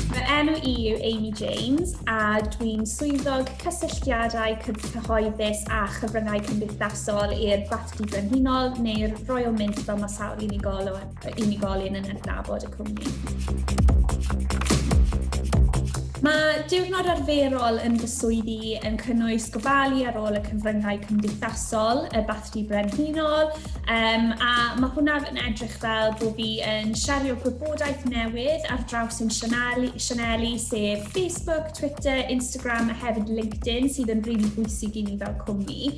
Fy enw i yw Amy James a dwi'n swyddog cysylltiadau cyhoeddus a chyfryngau cymdeithasol i'r Bathdy Brenhinol neu'r Royal Mint fel mae sawl unigolyn, unigolyn yn adnabod y cwmni. Mae diwrnod arferol yn fy swyddi yn cynnwys gofalu ar ôl y cyfryngau cymdeithasol, y Di Brenhinol, um, a mae hwnna yn edrych fel bod fi yn siario gwybodaeth newydd ar draws yn sianeli, sianeli sef Facebook, Twitter, Instagram a hefyd LinkedIn sydd yn rili really bwysig i ni fel cwmni.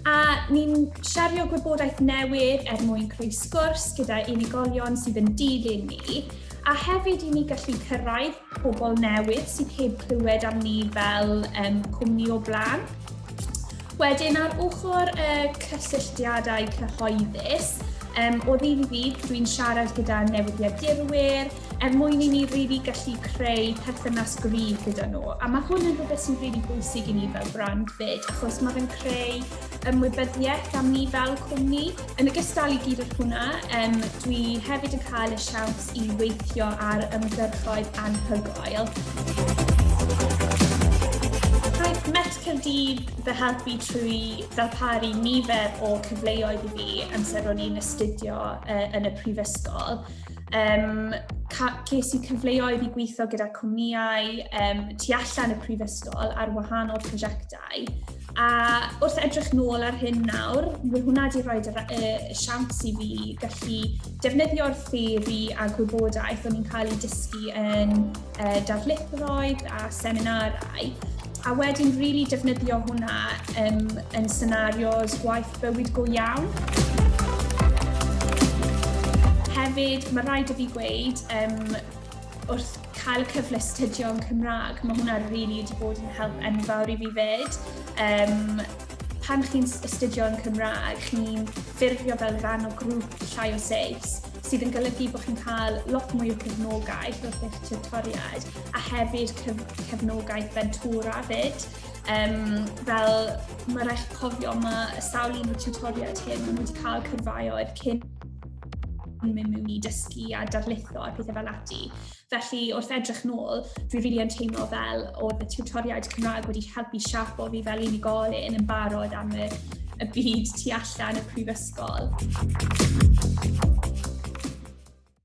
A ni'n siario gwybodaeth newydd er mwyn creu sgwrs gyda unigolion sydd yn dilyn ni a hefyd i ni gallu cyrraedd pobl newydd sydd heb clywed am ni fel um, cwmni o blaen. Wedyn ar ochr y uh, cysylltiadau cyhoeddus, um, o ddydd i ddydd, dwi'n siarad gyda newyddiadurwyr er mwyn i ni really gallu creu perthynas gryf gyda nhw. A mae hwn yn rhywbeth sy'n really bwysig i ni fel brand fyd, achos mae fe'n creu ymwybyddiaeth am ni fel cwmni. Yn ogystal i gyd â hwnna, um, dwi hefyd yn cael y siawns i weithio ar ymgyrchoedd anhygoel. Met Caerdydd fy helpu trwy ddarparu nifer o cyfleoedd i fi amser ro'n i'n astudio uh, yn y prifysgol. Um, ces i cyfleoedd i gweithio gyda cwmnïau um, tu allan y prifysgol ar wahanol prosiectau A wrth edrych nôl ar hyn nawr, mae hwnna wedi rhoi y siawns i fi gallu defnyddio'r theori a gwybodaeth o'n i'n cael ei dysgu yn uh, darlithoedd a seminarau, a wedyn rili really defnyddio hwnna um, yn senarios gwaith bywyd go iawn. Hefyd, mae rhaid i fi gweud, um, wrth cael y cyfle studio yn Cymraeg, mae hwnna rili really wedi bod yn help enfawr i fi fyd. Um, pan chi'n astudio yn Cymraeg, chi'n ffurfio fel rhan o grŵp llai o seis, sydd yn golygu bod chi'n cael lot mwy o cefnogaeth wrth eich tutoriaid, a hefyd cyf cefnogaeth fentora fyd. Um, fel mae rhaid cofio, mae y sawl un o'r tutoriaid hyn, maen nhw wedi cael cyrfaoedd cyn yn mynd mewn i dysgu a darlitho a pethau fel ati. Felly, wrth edrych nôl, dwi rili yn teimlo fel oedd y tiwtoriaid Cymraeg wedi helpu siapo fi fel unigolyn yn barod am y, y byd tu allan y prifysgol.